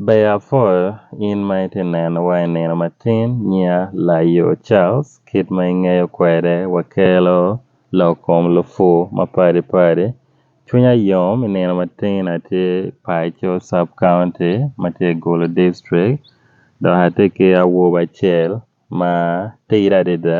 Ber afoyo in ma iti neno wa i nino matin nya layo Charles kit ma ingeyo kwede wa kelo lok kom lupur ma padi padi cwinya yom i nino matin atye paco sub county ma tye i gulu district dok atye ki awobi acel ma tidi adada.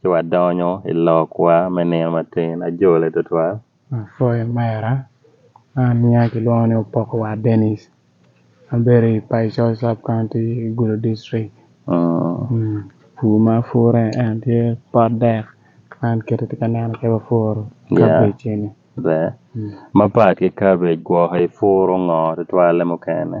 ci wadonyo i lokwa me nino matin. Ajole twatwal. Apwoyo mera. An niya kilwongo ni Opoko War Denis. Abedo i Paico sub county i Gulu district. Pur ma apure en tye pot dek ma an kite atye ka neno kit ma apuro kabej eni. Ber. Mapat ki kabej gwoko ipuro ngo tutwalle mukene?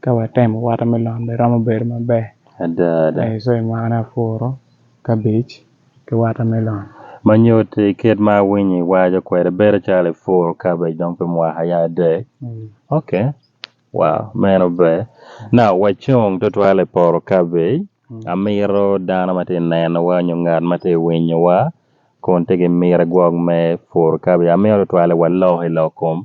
Ka watemo watermelon bene romo bedo maber. Ada ada. Aye so ma an apuro kabej ki watermelon. Ma nyut i kit ma awinyo iwaco kwede bedo calo ipuro kabej dong pi mwaka aye adek. Ok, wow meno ber. Now wacung tutwal i poto kabej. Amito dano ma tye ka nenowa nyo ngat ma tye ka winyowa kun tye ki miti gwok me puro kabej. Amito tutwale walok i lok kom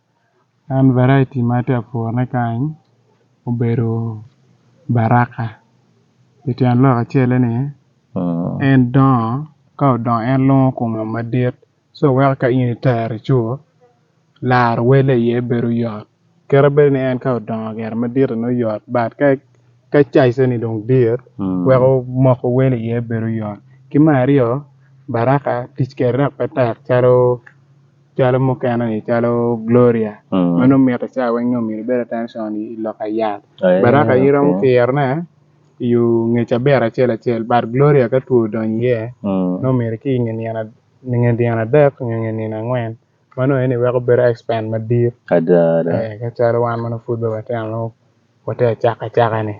An variety ma atye ka purone kany obedo baraka pi tyen lok acel-le ni en dongo ka odongo en lwongo kome madit ci weko ka in itere ci laro wele iye bedo yot kit ma bedo ni en ka odongo gire madit-ti nongo yot bat ka caijene dong dit weko moko wele iye bedo yot ki me aryo baraka tic kwede dok pe tek calo Calo mukene ni calo Gloria mm. mano mito ca weng nyo mito bedo attention i lok ayat oh, yeah, baraka okay. iromo kirone yu ngec aber acel acel but Gloria ka two dony iye mm. no mito ki inge nyen nge dyena adek nge nge nyen angwen mano eni weko bedo expand madit ada ada eh, ka calo wan mano food be wateno Wate acaka acaka ni.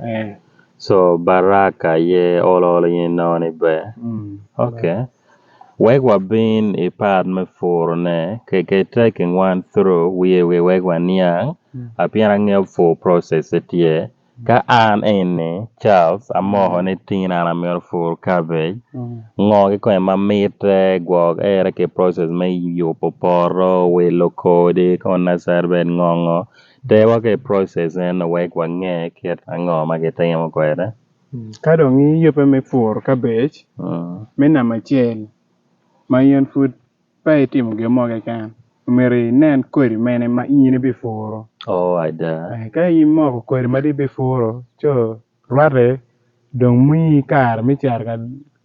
Eh. So Baraka ye olo olo in inongo ni ber. Mm. Ok. Wek wabin i part me puro ne ke ke taking one through wiye wiye wek waniang Mm. apien angeyo full process e tye ka an eni Charles amoko ni tin an amito pur cabbage Mm. ngo ki kome ma mitte gwok ere ki process me yubo poto wilo kodi ko nasari bed ngongo Dewa ki i process eno wek wange kit ango ma gitimo kwede. Ka dong iyubbe me pur kabej me namba acel ma in pud pe itimo gin mo keken, omyero inen kodi mene ma in ibipuro. Oo ada. Ka imoko kodi ma dong ibipuro co rwatte dong miyi kare me cito ka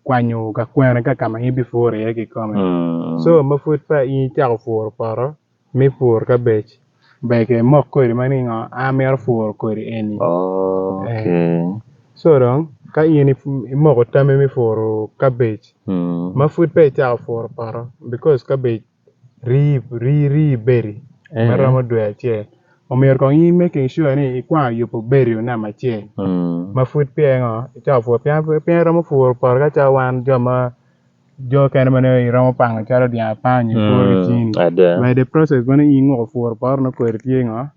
kwanyo ka kwene ka ka ma in ibipuro iye kikome. So ma pud pe in icako puro poto, me puro kabej bege mok kodi ma ningo amito puro kodi eni co dong ka in imoko tami me puro kabej ma pud peya icako puro poto bikos kabej ri bedi ma romo dwe acel omyero kong in imake sure ni ikwano yubo bedi namba acel ma pud peya ingo icako puro pien iromo puro poto ka cal wan jo ma jo kene ma ne iromo pango calo dyang apango i kor hmm, cini by the process ma ni ingo puro poro no kweri tye ngo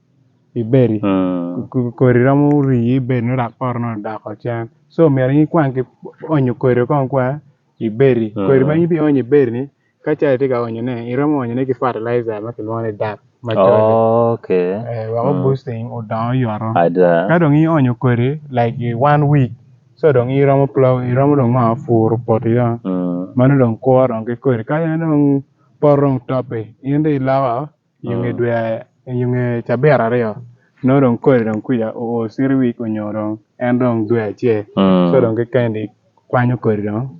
ibedi hmm. kori romo rii ibedi no rak poro no doko cen so myero ni kwang ki onyo kori kong kwa ibedi hmm. kori ma ibi onyo ibedi ni ka calo tye ka onyo ne iromo onyo ne ki fertilizer ma kilwongo ni dak ma oh, okay eh, wako boosting odongo yoto ka dong ionyo kori like one week so dong iromo plow iromo dong ma furu poti ya Mm. mano dong kwo dong ki kweri ka en dong pot dong topi in dong ilawa yunge Mm. dwe yunge cabira aryo no dong kweri dong kuja o siri wik onyo dong en dong dwe acel Mm. so dong kikendi kwanyo kweri dong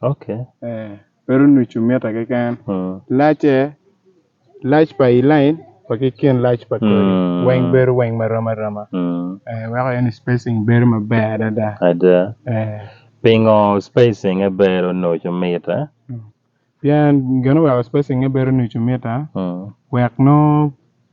Okay. Eh, pero nu cumita keken. Mm. Lace, lac pa i line wa ki kin lac pa kodi. Mm. Weng bedo weng ma roma roma. Mm. Eh, weko en spacing bedo maber adada. Ada. Eh, Pingo spacing e bero no cumita. pien geno weko spacing e bedo nu cumita, Mm. wek no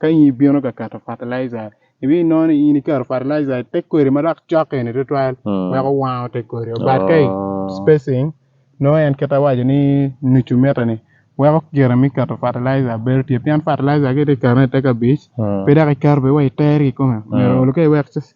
ka in ibino ka keto fertilizer ibi nono in iketo fertilizer i te kodi ma dok cokke ni tutwal Mm. weko wango te kodi but ka i Oh. spacing no en kita waco ni nucu mita ni weko gire mi keto fertilizer bedo tye pien fertilizer ki ti keto i te kabic Mm. pe dok iketo pe wa i ter ki kome Mm. mero olu ka iwek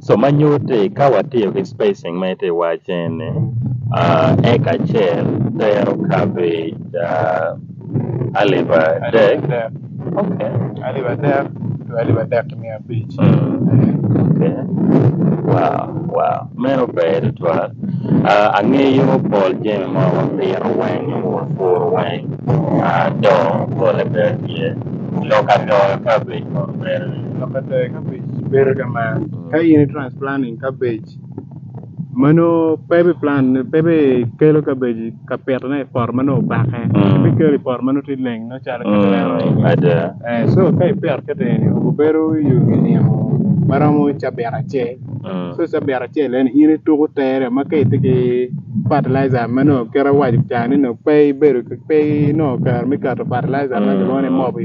So manyute ka watiyo gi spacing ma ite wache ni, uh, eka achiel tero cabbage uh, alif adek. Okay. Alif adek to alif adek mia abich. Okay. Wow, wow. Meno ber twal. Uh, ang'eyo Paul Jeme ma wapiro weng' mur fur weng' uh, do gole ber ye. Loka do cabbage ma ber. Loka do cabbage ber kama ka in transplanting cabbage mano pepe plant pepe kelo cabbage ka pitone i poto mano obake Mm. mi kelo i poto mano ti leng no calo ka lero Mm, ada. Eh, so ka ipito keteni obedo yugi nimo maromo cabit acel Mm. so cabit acel en in ituko tere ma ka iti ki fertilizer ma no kera waco cani no pe ibedo pe no kar me kato fertilizer ma Mm. kilwongo ni mobi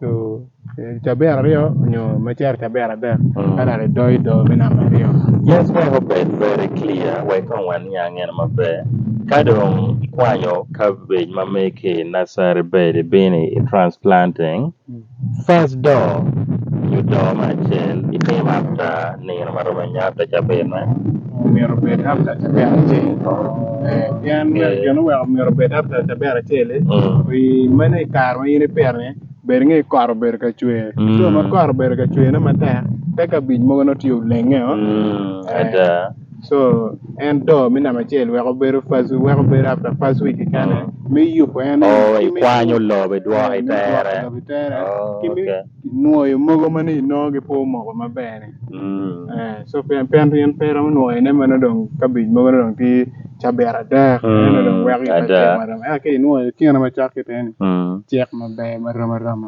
to eh, caber aryo onyo macer caber adek Mm. ka dali do ido me namba aryo Yes, we hope it very clear. We kong wan yang en maber. Ka dong ikwanyo cabbage ma meke i nursery bed bini i transplanting, first door you door ma acel itim after nino ma romo nyata cabene. omyero obed after cabera acel Eh, pien myero Eh. gin oweko omyero obed after cabera acel eh. Mm. i meno i kare ma in ipitone bed ngi kot obedo ka cwer Mm. so ma kot obedo ka cwerne matek te kabic mogo notye olenge o Mm, ada. so en do me namba acel weko bedo first weko bedo after first week kane me yubo en Oh, ikwanyo lobo idwoko itere. Lobo itere. Oh, Ki mi- okay. nwoyo mogo ma ni nongo gi po mogo maber ni. Mm. Eh, so pen pen yen pera mo nwoyo ne mano dong kabej mogo ne dong ti cabera dek Mm, ne dong wek ada. ma dong eke inwoyo kine ma cak kiteni Mm. cek maber ma rama rama